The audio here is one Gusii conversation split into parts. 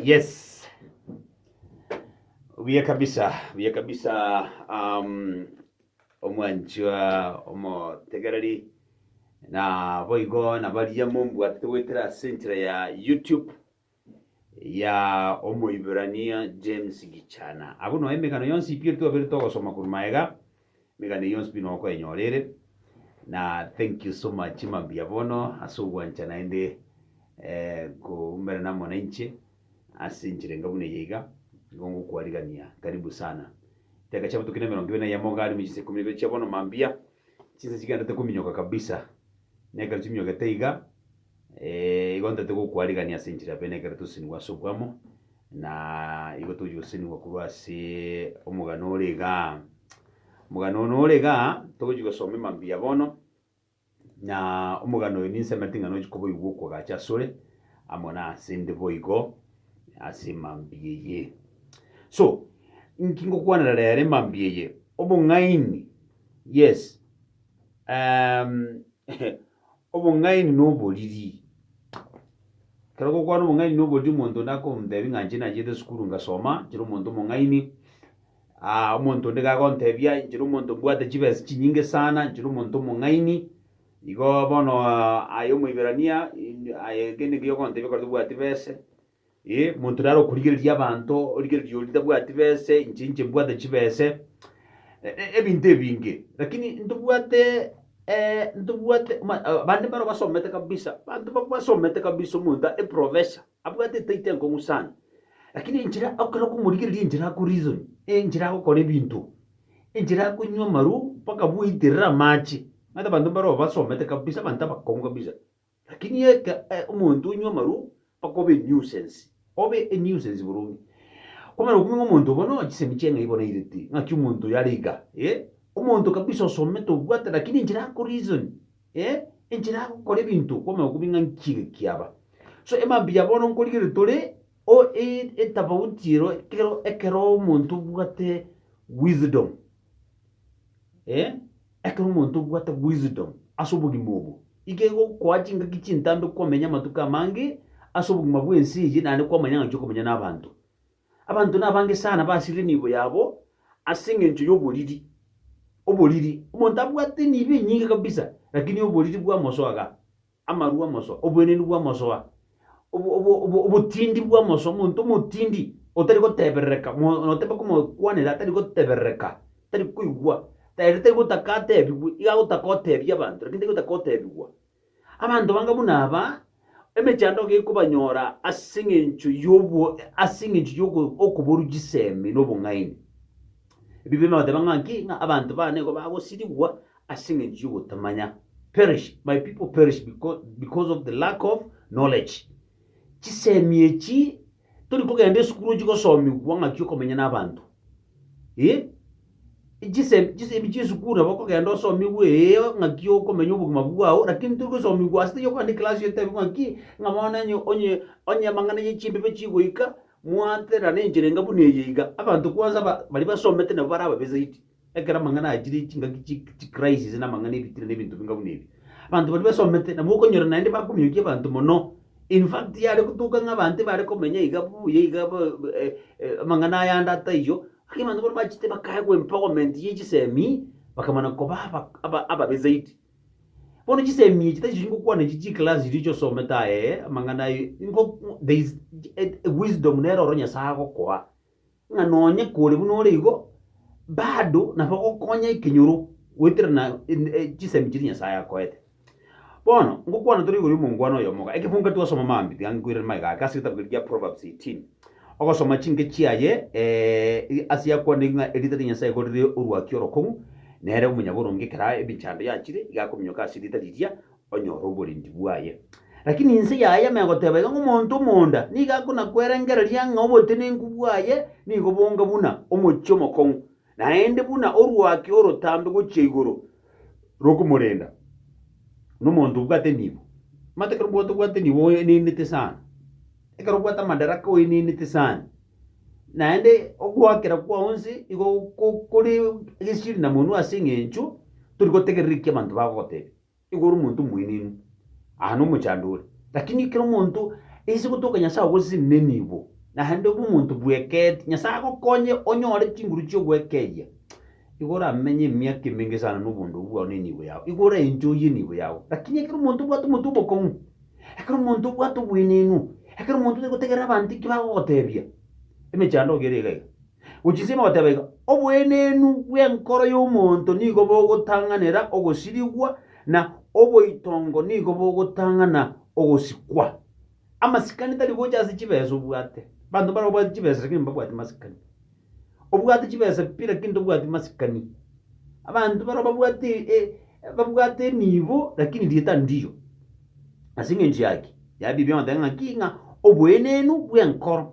Yes. Buya kabisa, buya kabisa um, omwanchwa omotegereri na boigo na baria mombwate togwetera ase enchera ya YouTube ya Omoibrania James Gichana. Abwo noe emegano yonsi pi etwabire togosoma korwa magega, emegano eye yonsi pi noe okoenyora ere, na thank you so much mambia bono ase ogwancha naende koumerana amo nainche ase enchera enga buna eye iga, nigo ngokwarigania karibu sana. Echidaka chiabutuki na emerongo ebere na eyemo iga arimo chinsa ikomi na ibere chia bono mambia, chinsa chigenderete kominyoka kabisa Nekero chimiogete iga, igo ntagete gokwarigania ase enchera yaye, nekero tosesenigwe ase obwamo, na igo togochi gosesenigwa korwa ase omogano ore igaa. Omogano one ore igaa, togochi gosoma emambuya bono, na omogano oyo ninse amerete ng'a nochi koboigwa okogacha asore, amo nase 'nde boigo ase emambuya eye. So, inki ngokwanera rero emambuya eye? Obong'aini, yes. Obong'aini na oboriri. Ekero gokwana obong'aini na oboriri omonto onde akomotebia ng'a inche nachiete esukuru ngasoma, inchire omonto omong'aini, ah, omonto onde iga agontebia inchire omonto mbwate chibesa chinyinge sana, inchire omonto omong'aini, igo bono aye Omoiberania, aye kende keria ogontebia ekero tobwati bese, Ee, monto nare okorigereria abanto, origereria oria tabwati bese, inche inche mbwate chibese, e- e- ebinto ebinge, lakini ntobwate eh, ntobwate ma- a- abande mbaro basomete kabisa, abanto ba- basomete kabisa, omonto a- eprofessor, abwate etaito enkong'u sana, lakini enchera ekero okomorigereria enchera ako reason, enchera agokora ebinto, enchera akonywa amaru mpaka bwaiterera amache, omanyete abanto mbaro basomete kabisa, abanto abakong'u kabisa. Lakini eke omonto onywa amarwa akoba enuisance, obe enuisance boronge. Kwamanya okumenya omonto obo no chisemi chi'eng'ai bono aireti, ng'aki omonto oyo are iga, eh, omonto kabisa osomete obwate lakini enchera ako reason, eh, enchera agokora ebinto kwamanya okumenya ng'a nki iga kiaba. So ema mbuya bono nkorigereria tore o e- etafauti ero ekero ekero omonto obwate wisdom, eh, ekero omonto obwate wisdom ase obogima obo, iga egokoa chingaki chintambe kwamenya amatuko amange ase obogima bw'ense eye naende kwamanya ng'a inchwe okomenya na abanto. Abanto nabange sana basirire emiibo yabo ase eng'encho y'oboriri, oboriri. Omonto abwate emiibo enyinge kabisa, lakini oboriri bwamosoa igaa. amarwa amosoa, oboenenu bw'amosoa, obo- obo- obo- obotindi bw'amosoa, omonto omotindi otari goteberereka, mo- noteba komokwanera atari goteberereka, tari koigwa, ere tari gotaka atebigwe, iga agotaka otebie abanto lakini tari gotaka otebigwa. Abanto banga buna aba, emechando gekobanyora ase eng'encho yobo ase eng'encho yoko okoborwa chisemi na obong'aini. Ebi bire nagoteba ng'a ki, ng'a abanto babo nigo bagosirigwa Ase engencho y'ogotamanya, perish, my people perish because of the lack of knowledge. Chisemi echi tori kogenda esukuru chigosomigwa ng'aki okomenya n'abanto. Eh, chisemi, chisemi chi'esukuru nabo okogenda osomigwe ee ng'aki okomenya obogima bwao, lakini tori gosomigwa ase tari okogenda ekelasi otebigwe ng'aki ng'a bono onye, onye, onye amang'ana ya chimbibe chigoika, mwaterana enchera enga buna eye iga. Abanto kwanza ba, baria basomete nabo bare ababe zaidi. Ekero amang'ana aya chire chingaki chi chi crisis na amang'ana ebitina na ebinto binga buna ebi, abanto baria basomete nabo okonyora naende bakomiokia abanto mono. In fact yare gotuka ng'a abanto ebare komenya iga buya iga ba eh eh amang'ana ayande ataiyo, ake abanto bono bachete bakaegwa empowerment ye chisemi, bakamana koba aba aba ababe zaidi. Bono chisemi echi tachiri ngokwana echi chi class chiria osomete aye amang'ana aye ingo there is a wisdom nere oro Nyasaye agokoa ng'a nonye kore buna ore igo, bado nabo gokonya ekenyoro goeterana en- e- chisemi chiria Nyasaye akoete. Bono, ngokwana tore igoro y'omongwana oyomo iga, ekebungo kare twasoma mambia, tiga nkoirere magega ake ase egetabu keria gia Proverbs eighteen, ogosoma chinke chiaye i- ase yakwanire ng'a erita ria Nyasaye igo rire orwaki orokong'u, nere omonyaboronge ekero ebichando yachire, iga akominyoka ase erita riria, onyore oborendi bwaye. Lakini inse yaye megoteba iga ng'a omonto omonda nigo akonakwerengereria ng'a obotenenku bwaye nigo bonga buna omochie omokong'u, naende buna orwaki orotambe gochia igoro rokomorenda nomonto obwate nibo. Omanyete ekero obwate obwate nibo oenenete sana, ekero obwate amadaraka oenenete sana, naende ogoakera kwao inse igo ko- kore gesieri na monwe ase eng'encho tori gotegerera eki abanto bagogotebia. Nigo ore omonto omoenenu aa nomochando ore, lakini ekero omonto aise gotoka Nyasae ogoseseni nenibo, naende obe omonto bweketi, Nyasae agokonye onyore chinguru chi'ogwekeyia, igo oramenye emiaka emenge sana noboondogwa bwao na enibo yao, igo oraenjoye enibo yao. Lakini ekero omonto obwate omotwe omokong'u, ekero omonto obwate oboenenu, ekero omonto tari gotegerera abanto eki bagogotebia, emechando ogo ere iga iga. Gochinsima goteba iga, Oboenenu bw'enkoro y'omonto nigo bogotang'anera ogosirigwa, na oboitongo nigo bogotang'ana ogosikwa. Amasikani tari gocha ase chibesa obwate. Banto mbare babwate chibesa lakini mbabwati masikani. Obwate chibesa pi lakini tobwati masikani. Abanto baro babwate e- babwate enibo lakini rieta ndiyo. Ase eng'encho yaki, yabibi ong'oteba ng'aki ng'a oboenenu bw'enkoro.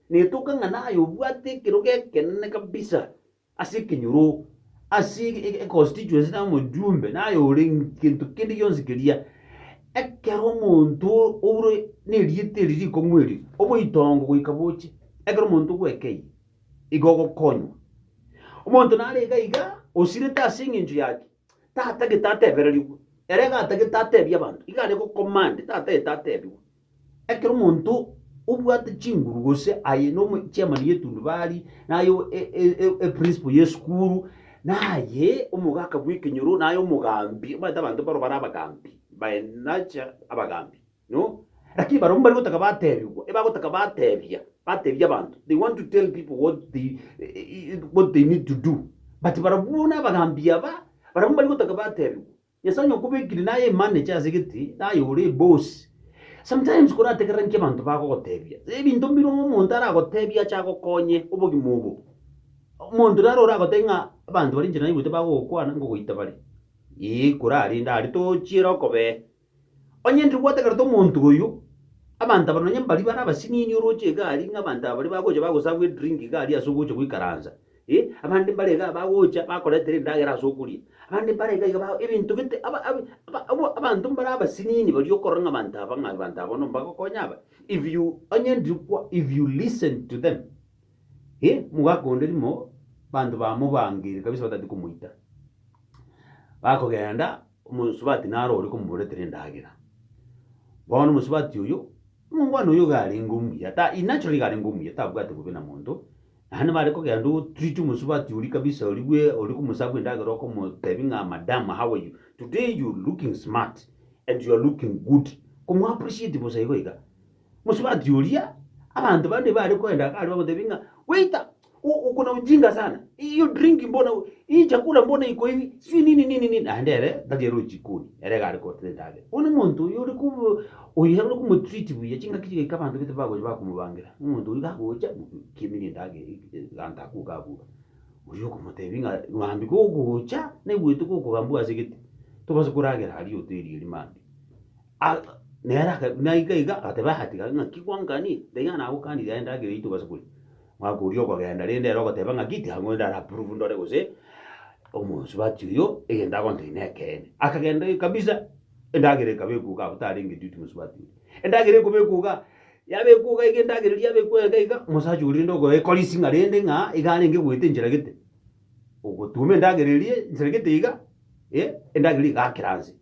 Netoka ng'a naye obwate ekerogo ekenene kabisa ase ekenyoro, ase econstituency naye omojumbe, naye ore gento kende gionsi keria. Ekero omonto oure nerieta eri rikong'u eri, oboitongo goika boche, ekero omonto ogwekeirie, igo ogokonywa. Omonto nare iga iga, osirete ase eng'encho ya ki? Tatagete atebererigwe, ere iga atagete atebie abanto, iga are go command, tatagete atebigwe. Ekero omonto obwate chinguru gose aye nomo chairman y'etundubari, naye o- e- e- e- e principal y'esukuru, naye omogaka bw'ekenyoro, naye omogambi, omanyete abanto baroo bare abagambi, by nature abagambi no, lakini barobwo mbarigotaka batebigwa, ebagotaka batebia, batebia abanto, they want to tell people what they what they need to do, but barobwo buna abagambi aba, barobwo mbarigotaka batebigwa, Nyasae onye okobekire naye emanager ase egete naye ore boss sometimes korategerera nki abanto bagogotebia ebinto mbire omonto aragotebie ache agokonye obogima obo omonto naro oragotebie ng'a abanto bare inche naigwete bagogokwana ngogoita bare ee korarende are tochiere okobee. Onye ndiri gwategerete omonto oyio, abanto aba nonye mbaria bare abasinini oroche egari, ng'a abanto aba baria bagocha bagoserve edrink iga aria ase ogocha goikaransa, eh, abande mbare iga bagocha bakoretera endagera ase okoria, abande mbare iga iga ba ebinto gete aba abi aba abwo abanto mbare abasinini baria okorora ng'a abanto aba ng'a abanto aba bono mbagokonya aba, if you onye ndiri kwa if you listen to them, eh, omogaka onde rimo abanto baa mobangeire kabisa batati komoita, bakogenda. Omosubati naro oria komoboretera endagera. Bono omosubati oyio, omongwana oyio iga arenge omuya, ta in naturally iga arenge omuya, tabwati bobe na monto, naende bare kogenda o treat omosubati oria kabisa oria bwe oria okomosabwa endagera okomotebi ng'a madam how are you, today you looking smart and you are looking good, komo appreciate bosa igo iga. Mosubati oria, abanto bande bare koenda iga aria bamotebi ng'a waiter, uko na ujinga sana, hiyo drink mbona hii chakula mbona iko hivi, sijui nini nini nini, naende ere tari ero jikoni ere gari koreta endagera. Bono omonto oyo ore ku oyo ere ore kumotreat buya chingaki chigaika abanto bete bagocha bakomobangira omonto oyo gagocha kimirie endagera egento akwo gabua oyo okomotebia ng'a mambia gogocha naigwete gokogambua ase gete tobasa koragera aria hoteli eria mambia a nere aka naika iga agateba yatiga ng'aki gwanganie tiga nagokanire aye endagera eyio tobasa koria. Mwaka oria okogenda rende ere ogoteba ng'a giti ang'u ende arapprove ndore gose omosubati oyo egento agontebi nekeene. Akagenda ee kabisa endagera ekaba ekwo igaa abwo tarenge duty mosubati oria. Endagera ekobekwa igaa, yabekwa igaa iga endagera eria yabekwa iga iga omosacha oria rende okoekorisia ng'a rende ng'a iga arenge goeta enchera gete, ogotuoma endagera eria enchera gete iga, endagera eria egakera anse.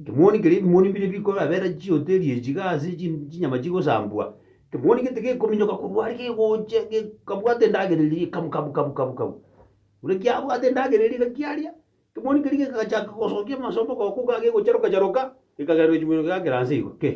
Ekemoni keria ebimoni mbire bikorabera chihoteri echi iga ase chinyama chigosambwa, ekemoni gete gekominyoka korwa aria gegocha gekabwata endagera eria kabu kabu kabu kabu kabu. Buna kiabwate endagera eria iga kiaria, ekemoni keria gegachaka gosokia amasondo goka iga gegocharoka charoka, gekagenda gochia mono geakera nse igo kei.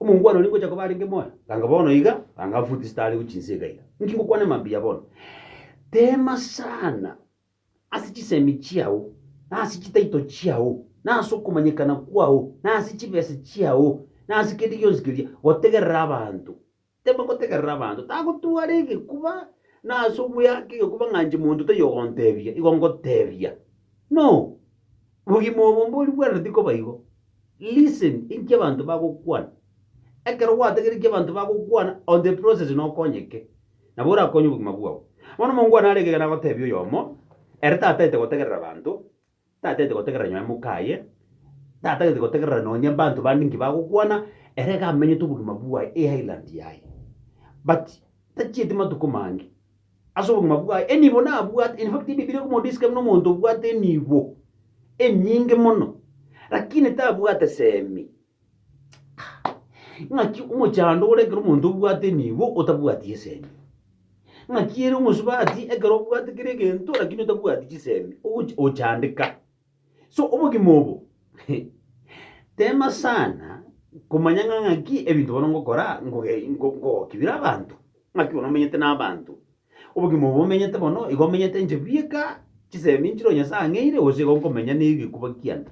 Omongwana oria ngocha koba arenge moyo, ganga bono iga, ganga futi zitaarigu chinse iga iga. Inki ngokwana mambia bono? Teema sana ase chisemi chiao, na ase chitaito chiao, na ase okomanyekana kwao, na ase chibesa chiao, na ase kende gionsi keria, gotegerera abanto Tibagotegerera abanto, tagotwara egekuba, na ase ogoyaka egekuba ng'a inche monto taiyo ogontebia, igo ngoteebia. No! Bogima obo mbori bwena tikoba igo. Listen, inki abanto bagokwana. Ekero gwategereti ki abanto bagokwana, on the process na okonyeke, nabo orakonye obogima bwao. Bono omonto kwane are ekegena agotebia oyomo, ere tataete gotegerera abanto, Tatete gotegerera nyuma y'emoka aye, tatagete gotegerera nonye mbanto bande nki bagokwana, ere iga amenyete obogima bwaye e Highland yaye. But, tachieti matuko mange, ase obogima bwaye enibo nabwate, in fact Ebibilia eko modescribe na omonto obwate enibo enyinge mono, lakini tabwate semi. Ng'aki omochando ore ekero omonto obwate emigo otabwati esemi? Ng'aki ere omosubati ekero obwate kera egento lakini otabwati chisemi ogochi ochandeka. So obogima obo tema sana komanya ng'a ng'aki ebinto bono ngokora ngoge ngo- ngogoki bire abanto, ng'aki bono omenyete na abanto. Obogima obo omenyete bono, igo omenyete inche bweka, chisemi nchire oyo Nyasae ang'eire, gose igo nkomenya negekuba kiane?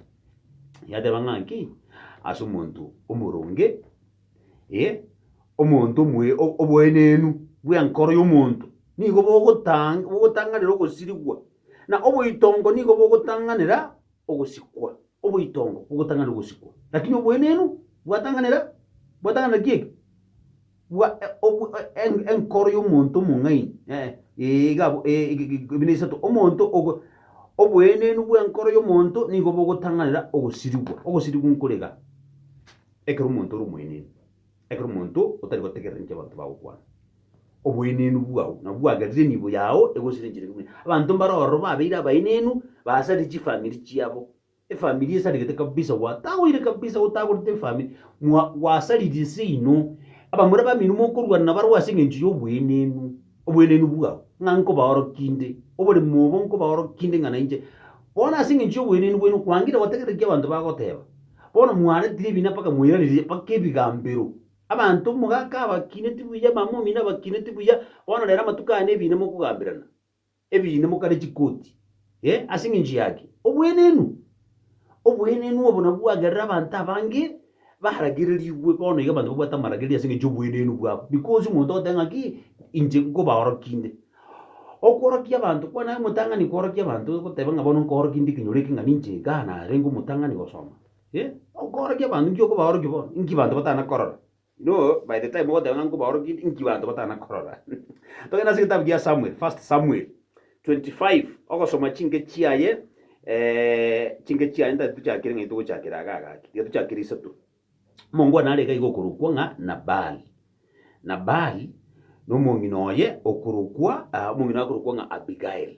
Yateba ng'a nki? Ase omonto omoronge, eh, omonto omoe o- oboenenu bw'enkoro y'omonto nigo bogotang bogotang'anera ogosirigwa, na oboitongo nigo bogotang'anera ogosikwa. Oboitongo bogotang'anera ogosikwa, lakini oboenenu bwatang'anera bwatang'anera ki eke? Bua enkoro y'omonto omong'aini, ee, iga abwo, ee, buna isato, omonto ogo, oboenenu bw'enkoro y'omonto nigo bogotang'anera ogosirigwa. Ogosirigwa nkorega ekero omonto ore omoenenu, ekero omonto otari gotegerera ninki abanto bagokwana. Oboenenu bwao nabwo bwagerire enibo yao egosirenchereke buna abanto mbare ororo babeire abaenenu, basarire chifamiri chiabo, Efamiri esarigete kabisa gwatagoire kabisa gotagorete efamiri mwa gwasaririe seino abamura bamino mokorwana na barwe ase engencho y'obwenenu obwenenu bwao ng'a nkobaorokinde oboremo obo nkobaorokinde ng'a nainche bono ase engencho y'obwenenu bwenyu kwangire gotegerera ki abanto bagoteba bono mwaretire ebina mpaka mwairareria mpaka ebigambero abanto omogaka abakineti buya mama omino abakineti buya bono rero amatuko aya nebina mokogamberana. Ebiine mokare chikoti, e, ase engencho yake. Obwenenu, obwenenu obo nabwo bwagerera abanto abange baragererigwe. Bono iga abanto babwate amaragereria ase engencho y'obwenenu bwabo, because omonto ogoteba ng'aki, inche nkobaorokia inde. Okworokia abanto kwane aye omotang'ani kworokia abanto ogoteba ng'a bono nkoorokia inde ekenyoro eke ng'a ninche igaa narenge omotang'ani gosoma, e. Okoorokia abanto, inki okobaorokia bono? Inki abanto batana korora? Inwe by the time mogoteba ng'a nkobaorokia inki banto batana korora? Togende ase egetabu gia Samuel, First Samuel 25, ogosoma chinke chiaye chinke chiaye nta titochakire ng'a nitogochakera aga agaki, tiga tochakire isato. Omongo one arenge iga okorokwa ng'a Nabali. Nabali nomong'ina oye okorokwa omong'ina oye akorokwa ng'a Abigail.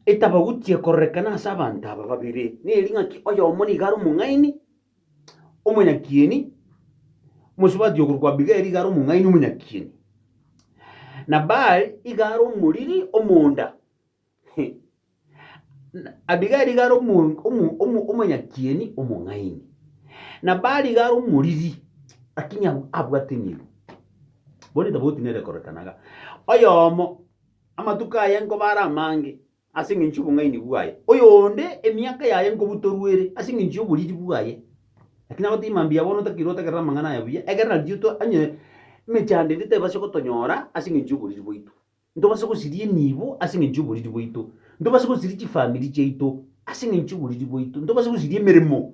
Etabauti ekororekana ase abanto aba babere neri ng'aki oyomo niga are omong'aini, omonyakieni, omosubati okorokwa Abigaili iga are omong'aini omonyakieni. Nabali iga are omoriri omonda. Abigaili iga are omo- omo- omo- omonyakieni omong'aini. Nabali iga are omoriri, lakini ab- abwate emeru. Bono etabagotinere ekorekana iga. Oyomo, amatuko aye nkoba are amange, ase engencho y'obong'aini bwaye, oyonde emiaka yaye nkobutorwa ere ase engencho y'oboriri bwaye. Lakini aba tari mambia, bono otakiri otagerera amang'ana aya buya, egerera nario to, onye emechando ende tebasi gotonyora ase engencho y'oboriri bwaito, ntobase gosiria enibo ase engencho y'oboriri bwaito, ntobase gosiria chifamiri chiaito ase engencho y'oboriri bwaito, ntobase gosiria emeremo.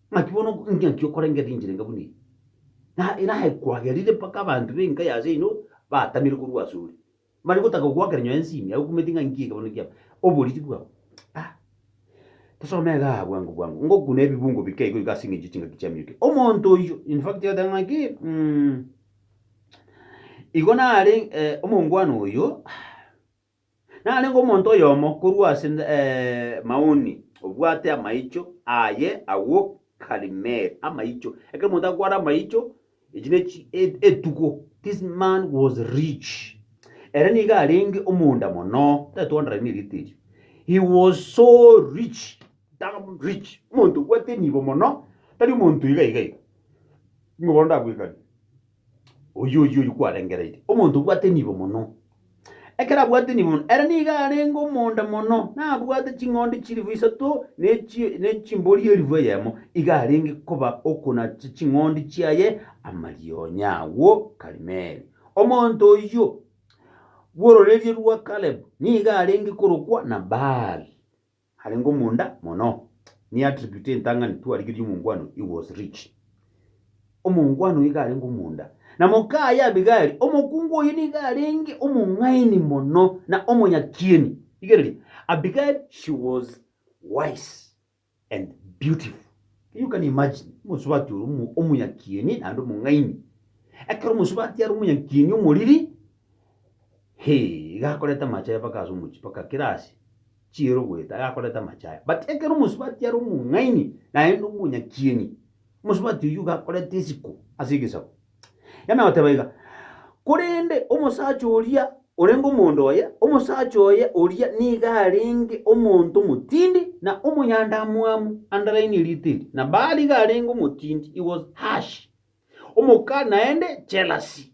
Naki bono ingaki okorengera enchera enga buna eye, na ere aye kwagerire mpaka abanto b'enka ya seino batamire korwa asore, mbare gotaka gogoakera nyoyo ense ime, agokumete ng'a inki ekebanwa kiabo, oboriti bwabo. A Tosome iga aa bwango bwango, ngokuna ebibungo bike igo igo ase engencho y'echingaki chia minyoke. Omonto oyio, in fact egoteba ng'a ki, igo nare omongwana oyo. Narenge omonto oyomo korwa ase Maoni obwate amaicho aye agwo Karimeli, amaicho, ekero omonto akwara amaicho, echi ne chi- e- etuko, this man was rich. Ere nigo arenge omonda mono, tari twanderanie erite erio. He was so rich, damn rich, omonto obwate enibo mono, tari omonto iga iga iga, nigo bono ndagwekanie. Oyio oyio oyio kwarengereiri, omonto obwate nibo mono. Ekero abwate nibo mono, ere nigo arenge omonda mono, nabwate ching'ondi chilifu isato ne chi- ne chimbori elifu eyemo, iga arenge koba okonacha ching'ondi chiaye amarionya agwo Karimeli. Omonto oyio bw'ororeria rwa Kalebu nigo arenge korokwa Nabali. Arenge omonda mono. Ni attribute entang'ani twarigereria omongwano he was rich. Omongwano iga arenge omonda. Na mokaye Abigari, omokungu oyio nigo arenge omong'aini mono na omonyakieni. Rigereria, Abigari she was wise and beautiful. Can you can imagine omosubati oria omo- omonyakieni naende omong'aini. Ekero omosubati are omonyakieni omoriri, hee, iga akoreta amache aye mpaka ase omochie, mpaka kera ase. chiero goeta agakoreta amache aya. But ekero omosubati are omong'aini naende omonyakieni, omosubati oyio iga akoreta isiko ase egesaku. Yamanya goteba iga, Korende omosacha oria orenge omonto oye, omosacha oye oria nigo arenge omonto omotindi na omonyandamwamu, underline eriita eri, na Baali iga arenge omotindi, he was harsh, omokali naende jealousy.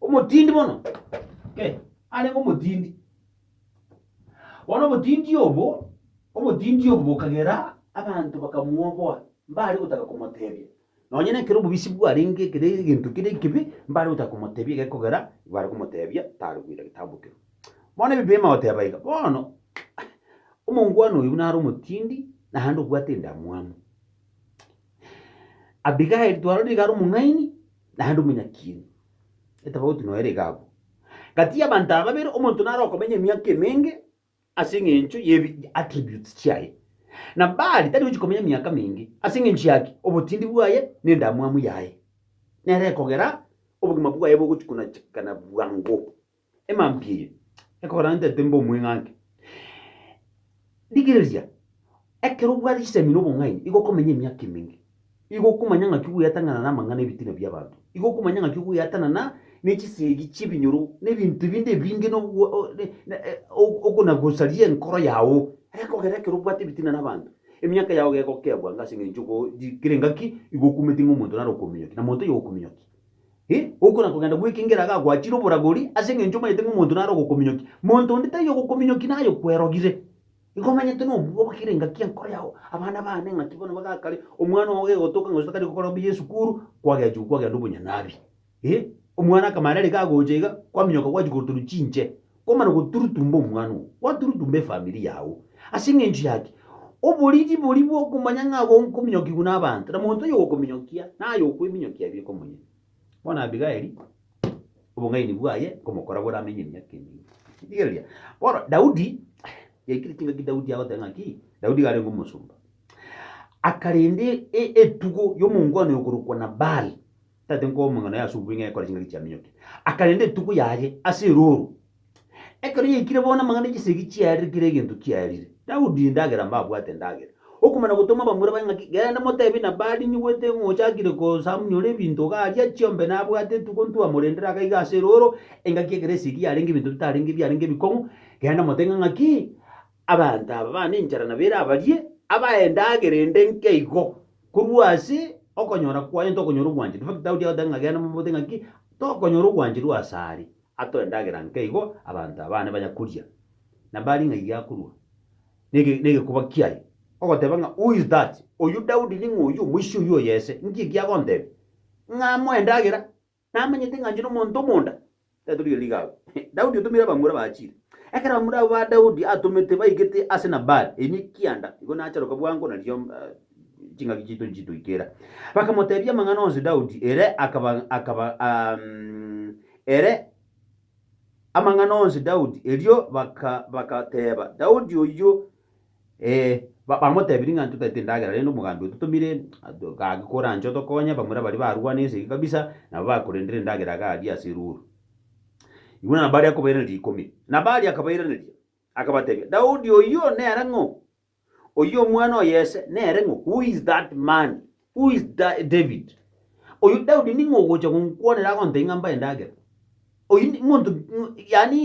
Omotindi mono, eh, arenge omotindi. Bono obotindi obo, obotindi obo bokagera abanto bakamwoboa, mbare gotaka komotebia. Nonye na ekero obobisi bwarenge ekere egento kere ekibe, mbare gotaka komotebia egekogera bare komotebia tare koira getambo kero. Bono ebi biama goteba iga, bono omongwana oyo buna are omotindi naende obwate endamwamu. Abigaili twarorire iga are omong'aini. naende omonyakiiri, etabauti noyo ere iga abwo. Gati y'abanto aba babere omonto nare okomenya emiaka emenge ase eng'encho y'ebi attributes chiaye, na Baali tari gochia komenya emiaka menge. Ase engencho yaki? Obotindi bwaye na endamwamu yaye nere ekogera obogima bwaye bogochia konachekana bwango. emambi eye ekorentete mbe omweng'anke. Rigereria, ekero obwate chisemi na obong'aini, igo okomenya emiaka emenge, igo okomanya ng'aki ogweatanana namang'ana ebitina bi'abanto, igo okomanya ng'aki ogweatanana nechisegi chi'ebinyoro na ebinto ebinde ebinge na okonagosaria enkoro yao. Ekogera ekero obwate ebitina nabanto, emiaka yao gegokeebwa ng'a as'eng'encho kere engaki igo okumete ng'a omonto nare okominyokia, na monto oyo okominyokia. Ee, gokora kogenda gw'ekengera iga gwachire oboragori, ase engencho omanyete ng'a omonto nare ogokominyokia. Monto onde taiyo ogokominyokia naye okwerogire. Igo omanyete nobua obokire engaki enkoro yao, abana baane ng'aki bono bagakare, omwana oo gegotoka ng'a gose tari gokora obuya esukuru, kwagechigwa kwagenda obonyanabi. Ee, omwana akamanya nere iga agocha iga, kwaminyoka gwachia koroterwa chinche. Kwamana goturutumba omwana oo, gwaturutumba efamiri yao. Ase engencho yaki? Oboriri boria bw'okomanya ng'a agwo nkominyokigwa n'abanto, na monto oyogokominyokia naye okweminyokia aye bweka omonyene. Bono Abigaili, obong'aini bwaye nkomokora bore amenye emiaka emenge. Rigereria. Bono Daudi, yaikire chingaki Daudi agoteba ng'aki? Daudi iga arenge omosomba. Akarenda etugo y'omongwana oyokorokwa Nabali, Tata enkomeng'ana ya asubuhi ng'a ekore chingaki chiaminyoke, akarenda etuko yaye ase erooro. Ekero yaikire bono amang'ana ya chisegi chiarire kera egento kiarire. Daudi endagera mbabwate endagera. Okomana gotoma abamura baye ng'aki, Genda motebie Nabali, Nigwete ng'a ochakire kosamunyora ebinto iga aria, chiombe nabwate etuko ntwamorendere aka iga ase erooro, engaki ekero esegi yarenge ebinto bitarenge ebiarenge ebikong'u, genda mote ng'a ng'aki, Abanto aba bana enchara na bera barie abaendagera ende nkeigo, korwa ase okonyora kwaye ntokonyora obwanchani. In fact, Daudi agoteba ng'a genda mobote ng'aki? Tokonyora obwanchani rwa ase are. Atoe endagera nkeigo abanto aba bane banya koria. Na bari ng'a iria akorua nege negekuba kiaye. Ogoteba ng'a who is that? Oyio Daudi ning'o oyio? Omoisia oyio oyo ese? Nki ekiagontebia? Ng'a amoe endagera? Namanyete ng'a inche nomonto omonda, taitori o riga agwo. Daudi otomire abamura bachire. Ekero abamura abo ba Daudi atomete baigete ase Nabali, ime ekianda, igo nacharoka bwango, nario ching'aki chiaito nchitoikera. Bakamoteebia amang'ana onsi Daudi, ere akaba, akaba, ere amang'ana onsi Daudi, erio baka, bakateeba, Daudi oyio, Bamotebirie ng'a intwe totagete endagera rende omoganda oyo totomire gaki koranche otokonye, bamura baria barwana esegi kabisa nabo bakorendire endagera iga aria ase eruuru. Igo nabo aria akobairaneria rikumi. Nabo aria akabairaneria, akabatebia, Daudi oyio nere ng'o? Oyio omwana o Yese nere ng'o? Who is that man? Who is David? Oyio Daudi ning'o ogocha gonkwanera agontebia ng'a mbae endagera? Oyio ni monto yani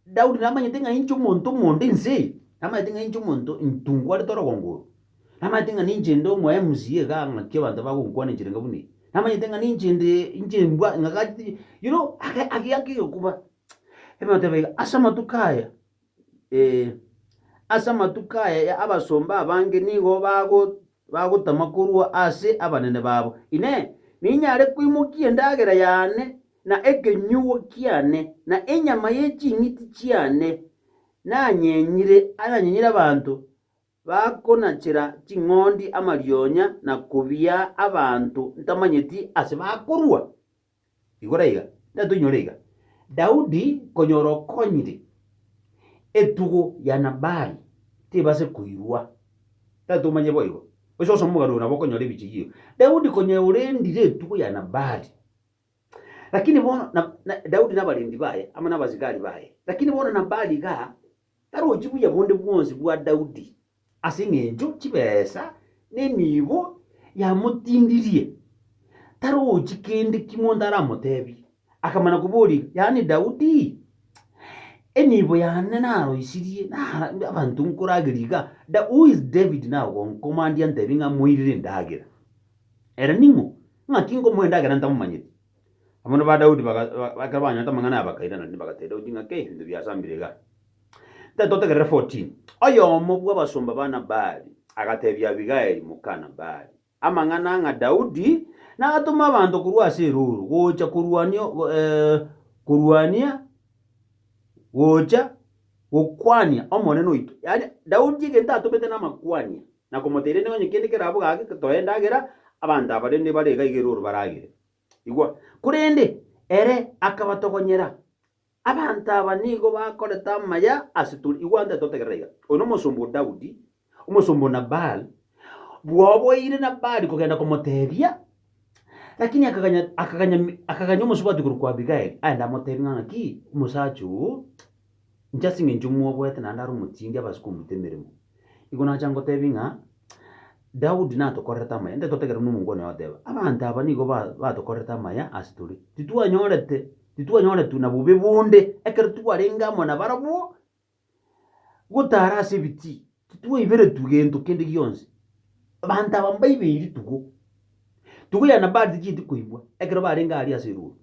Daudi namanyete ng'a inche omonto omonde inse eye, namanyete ng'a inche omonto ntungwarete orogongo oro, namanyete ng'a ninche inde omo MCA iga ng'aki abanto bagonkwana enchera enga buna eye, namanyete ng'a ninche inde inche mbwa ng'agachete you know ake ake ake egekoba ebibe oteba iga ase amatuko aya. Ee, ase amatuko aya ya abasomba abange nigo bago bagotama korwa ase abanene babo. Inee! Ninyare koimokia endagera yane, na ekenyugo kiane, na enyama ye ching'iti chiane nanyenyire ananyenyire abanto? Bakonachera ching'ondi amarionya na kobia abanto ntamanyeti ase bakorua. Igora iga, nere toinyore iga, Daudi konyora okonyire, etugo ya Nabali tebase koirwa. Nere tomanye boigo, gose osome omogano oyo nabo okonyora ebiche yio. Daudi konya orendire etugo ya Nabali, lakini bono Daudi nabarendi baye amo nabasigari baye, lakini bono Nabali igaa. Tarochi buya bonde bwonsi bwa Daudi, ase engencho chibesa nenibo yamotindirie, tarochi kende kimonto aramotebie. Akamana koboria, Yaani Daudi, enibo yane naroisirie, na abanto nkoragerie iga, Who is David now gonkomandia ntebie ng'a moirire endagera? Ere ning'o, ng'aki nkomoa endagera ntamomanyeti? Abanto ba Daudi baga, ba- ekero banyorete amang'ana aya bakairanania, bagateeba Daudi ng'a, Kei, ebinto biasambire iga! Tari totegerere 14 Oyomo bw'abasomba ba Nabali agateebia Abigaili, moka Nabali, amang'ana ng'a Daudi natome abanto korwa ase erooro gocha korwania, go- eh, korwania, gocha gokwania Omonene oito. Yaani Daudi egento atomete namakwania, na komoteera inde onye kende kerabwo gake, toe endagera, abanto aba rende bare iga iga erooro baragere. Igwa, korende ere akabatogonyera, Abanto aba nigo bakorete amaya ase tore. Igwa onde totegerera iga, oyo nomosomba o Daudi, omosomba o Nabali, bwaoboire Nabali kogenda komoteebia, lakini akaganya akaganya akaganya omosubati korwa kwa Abigaili aende amoteebie ng'a ng'aki omosacha oo Inche ase engencho mwoboete naende are omotindi abase komuita emeremo. Igo nacha ngotebi ng'a Daudi natokorerete amaya, intwe totegereti buna omonto one ogoteba, abanto aba nigo ba batokorerete amaya ase tore. Titwanyorete, titwanyoretwe na bobe bonde ekero twarenge amo nabarabwo, gotara ase ebitii. Titwaiberetwe gento kende gionsi. Abanto aba mbaibeiri tugo. Tugo ya Nabali tichieti koigwa ekero barenge aria ase erooro.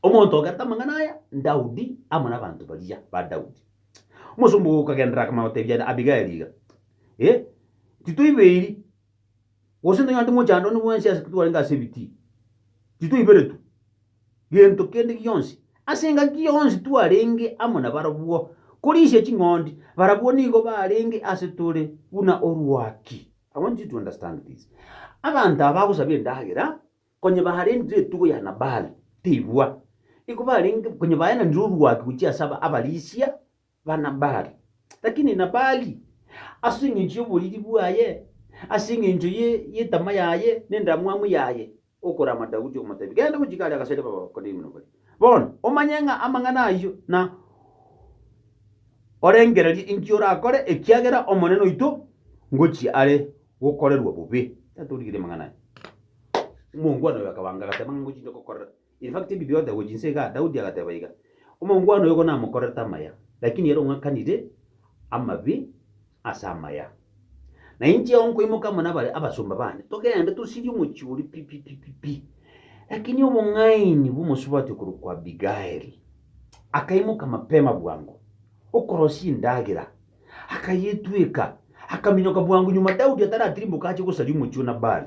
Omonto ogerete amang'ana aya n'Daudi amo nabanto baria ba Daudi. Omosomba oyo okagenderera akamanya gotebia Abigaili iga, Ee, titwaibeiri. Gose nonya onde mochandani bwensi ase twarenge ase ebitii, titwaiberetwe gento kende gionsi, ase engaki yonsi twarenge amo nabarabwo, korisia ching'ondi, barabwo nigo barenge ase tore buna orwaki. I want you to understand this, abanto aba bagosaba endagera, konye barendire etugo ya Nabali, teibwa, igo barenge, konye baenanire orwaki gochia ase abarisia, ba Nabali. Lakini Nabali, ase engencho y'oboriri bwaye, ase engencho ye yetama yaye, na endamwamu yaye, okorama Daudi, okomotebia, Genda gochika aria agaseri b'Abakaldayo buna bari, bono, omanye ng'a amang'ana ayio, na orengererie inki orakore, ekiagera Omonene oito ngochia are gokorerwa bobe. Tatoorigereria amang'ana aya. Omongwana oyo akabaanga, agateba ng'a, Ngochia inche gokorera. In fact, ebi biote gochia inse igaa, Daudi agateba iga, Omongwana oyo bono namokorerete amaya, lakini ere ong'akanire amabe ase amaya. Na inche ao nkoimoka amo nabare abasomba bane, togende tosirie omochie oria pi pi pi pi pi. Lakini obong'aini bw'omosubati okorokwa Abigaili akaimoka mapema bwango, okorosia endagera, akayetweka, akaminyoka bwango nyuma Daudi ataratirimboka ache gosaria omochie o Nabali.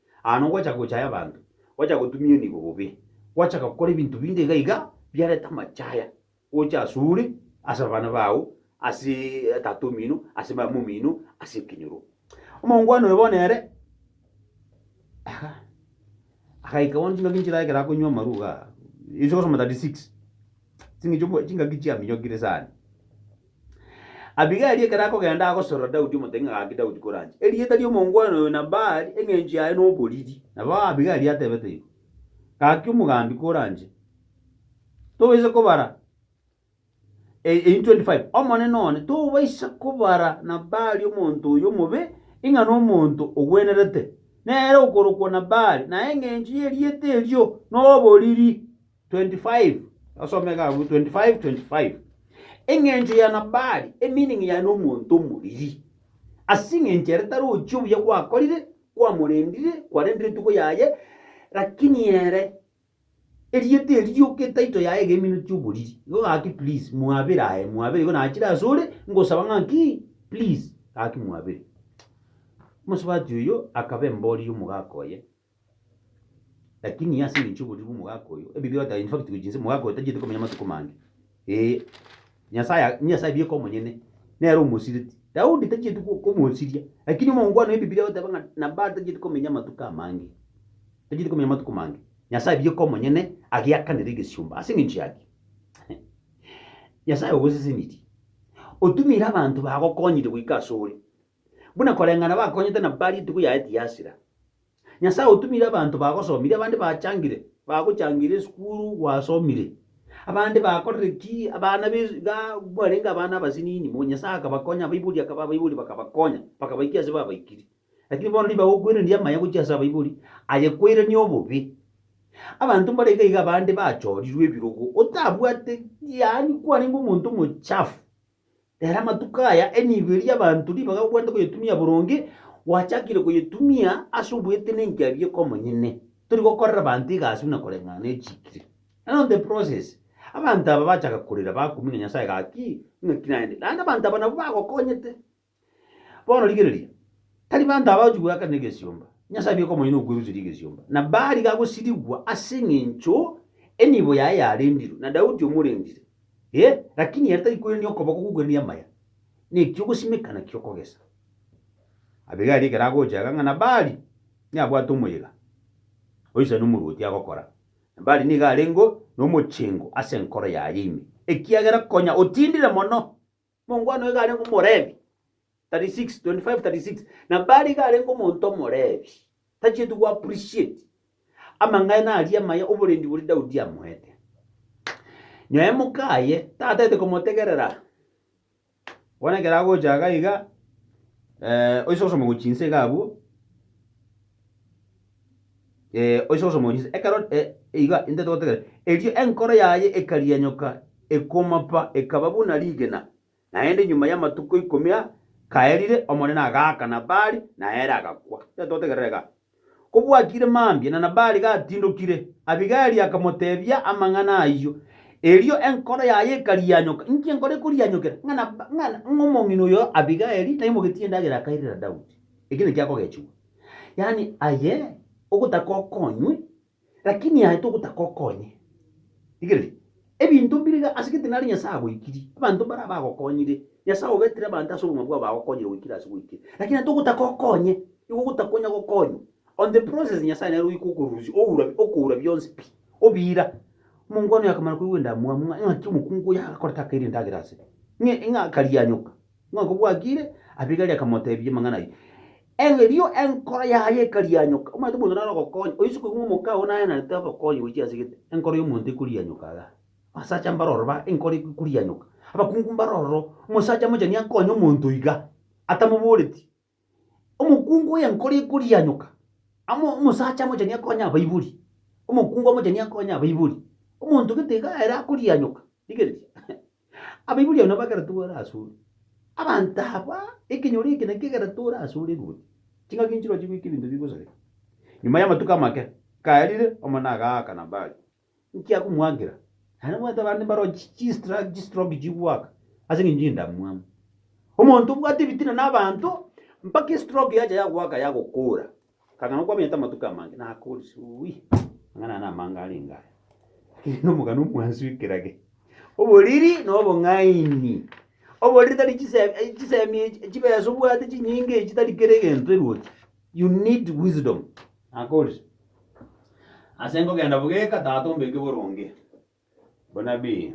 Aa nogochaka gochaya abanto, gochaka gotumia enibo bobe, gochaka gokora ebinto binde iga iga biareta amachaya gocha asore, ase abana bao, ase tata omino, ase mama omino, ase ekenyoro. Omongwana oyo bono ere aga agaika bono chingaki nchirae ekero akonywa amarwa igaa, inche gosoma 36 chingaki chiaminyokire sana. Abigaili ekero akogenda agosorora Daudi omotebia ng'a gaki Daudi koranche, erieta ri'omongwana oyo Nabali, eng'encho yaye noboriri. Nabo Abigaili atebete igo, Gaki omogambi koranche, tobaisa kobara e- e in 25 Omonene one, tobaisa kobara Nabali omonto oyio omobe, ing'a nomonto ogwenerete, nere okorokwa Nabali, na eng'encho y'erieta erio noboriri. 25:25 Engencho ya Nabali, emining yaye nomonto omoriri, ase engencho ere tarochi obuya gwakorire, kwamorendire, kwarendire etuko yaye, lakini ere erieta eri rioka etaito yaye iga eminwe chi'oboriri, igo gaki please mwabere aye, mwabere igo nachire asore, ngosaba ng'aki please gaki mwabere. Omosubati oyio akaba emboriri omogaka oye, Lakini ase engencho y'oboriru bw'omogaka oyo, ebibe batari in fact gochia inse, omogaka oyo tacheti komenya amatuko mange. Ee, Nyasaye a- Nyasaye bieka omonyene, nere omosireti. Daudi tachieti ko- komosiria, lakini omongwana Ebibilia egoteba ng'a Nabali tacheti komenya amatuko amange, tacheti komenya amatuko mange. Nyasaye bieka omonyene ageakanere egesiomba ase engencho yaki. Nyasaye ogosesenirie, otumire abanto bagokonyire goika asore, buna koreng'ana bakonyete na baria etuko yaye tiyasira. Nyasae otumire abanto bagosomire, abande bachangire, bagochangeire esukuru gwasomire, abande bakorire ki, abana be iga mwarenge abana abasinini mono, Nyasae akabakonya, abaibori akaba abaibori bakabakonya, bakabaikia ase babaikiri. Lakini bono ribaga okwerendi amaya gochia ase abaibori, aye kwerania obobe. Abanto mbare iga iga abande bachorirwe ebirogo, otabwate yaani kwarenge omonto omochafu. Ere amatuko aya enibo eria abanto ribaga bagwenerete koyetumia boronge, gwachakire koyetumia ase oboete nenki aria eke omonyene. Tori gokorera abanto iga ase buna koreng'ana ne chikiri. And on the process, abanto aba bachaka korera bakumina Nyasaye gaki, ng'aki naende. Naende abanto aba nabo bagokonyete. Bono rigereria, tari banto aba bagochi goeakanera egesiomba. Nyasaye abe eke omonyene okweruseria egesiomba. Na bari gagosirigwa ase eng'encho enibo yaye yarendirwe, na Daudi omorendire. Ee, lakini ere tari koirania okoboko gokoirania amaya, neki ogosimekana ki'okogesa. Abigaili ekero agocha iga ng'a Nabali nabwate omoyega oisani omorwoti agokora, Nabali nigo arengeo nomochengo ase enkoro yaye ime, ekiagera konya otindire mono. Mongwana oyo igarenge Omolevi, 36, 25, 36, na Bali igarenge omonto Omolevi, tachieti go appreciate amang'aina aria amaya oborendi boria Daudi amoete. Nyaye mokaye tataete komotegerera, bono ekero agocha iga iga, eh, oise gosoma gochia inse iga abwo, Ee, oise gose omonyisa. Ekero e, iga intete gotegerera. Erio enkoro yaye ekarianyoka, ekomapa, ekaba buna rigena. Naende nyuma y'amatuko ikomi a, kaerire, Omonene agaaka Nabali, na ere agakwa. Intete gotegerera igaa. Kobwakire mambia, na Nabali gatindokire, Abigaili akamotebia amang'ana ayio. Erio enkoro yaye ekarianyoka. Inki enkoro ekorianyokera? Ng'a Nab, ng'a, ng'a omong'ina oyo Abigaili naimogetie endagera akairera Daudi. Eki nekiakogechigwa. Yaani aye ogotaka okonywe, lakini aye togotaka okonye. Rigereria, ebinto mbire iga ase egete nare Nyasae agoikirie, abanto mbare abagokonyire, Nyasae obetire abanto ase obogima bwabo bagokonyire goikera ase goikera, lakini aye togotaka okonye, nigo ogotaka onya gokonywa. On the process Nyasae nere ogoika okorusia oura okoura bionsi pi, obira. Omonkwano yakamanya koigwa endamwamu ng'a ng'aki omokungu oyo agakora takaire endagera ase, ng'e ng'a akaria anyoka, Ng'a kobwakire, Abigaili akamoteebia amang'ana ayio. Erio enkoro yaye ekarianyoka. Omanyete omonto nare ogokonya, oyio sikobua omokao naye narete ogokonya gochia ase gete. Enkoro y'omonto ekorianyoka igaa. Abasacha mbare ororo ba enkoro eko ekorianyoka. Abakungu mbare ororo, omosacha mochani akonye omonto igaa, atamoboreti. Omokungu oyenkoro ekorianyoka, amo omosacha amochani akonye abaibori, omokungu amochani akonye abaibori, omonto gete iga ere akorianyoka, rigereria, abaibori abwo nabo ekero togore ase ore. Abanto aba, ekenyoro eke nakio ekero tore ase ore ruoti, ching'aki nchiroche goika ebinto bigosareka. Nyuma y'amatuko amake, kaerire, omone agaaka Nabali, Inki akomwakera? Naende omanyete abande mbaroo chi chistra chistroke chigwaka ase eng'encho y'endamwamu. Omonto obwate ebitina na abanto mpaka estroke yacha yagwaka yagokoora. Akang'ana okwaminyete amatuko amange nakoori suui, amang'ana aya namange arenge aya. Lakini na omogani omwansu ekerage. Oboriri na obong'aini. Oboriri tari chise eh, chisemi echi chibesa obwate chinyinga echi tari kera egento erwoti. You need wisdom. Nakoorire, ase nkogenda bogeka, Tata ombeke boronge bonabii.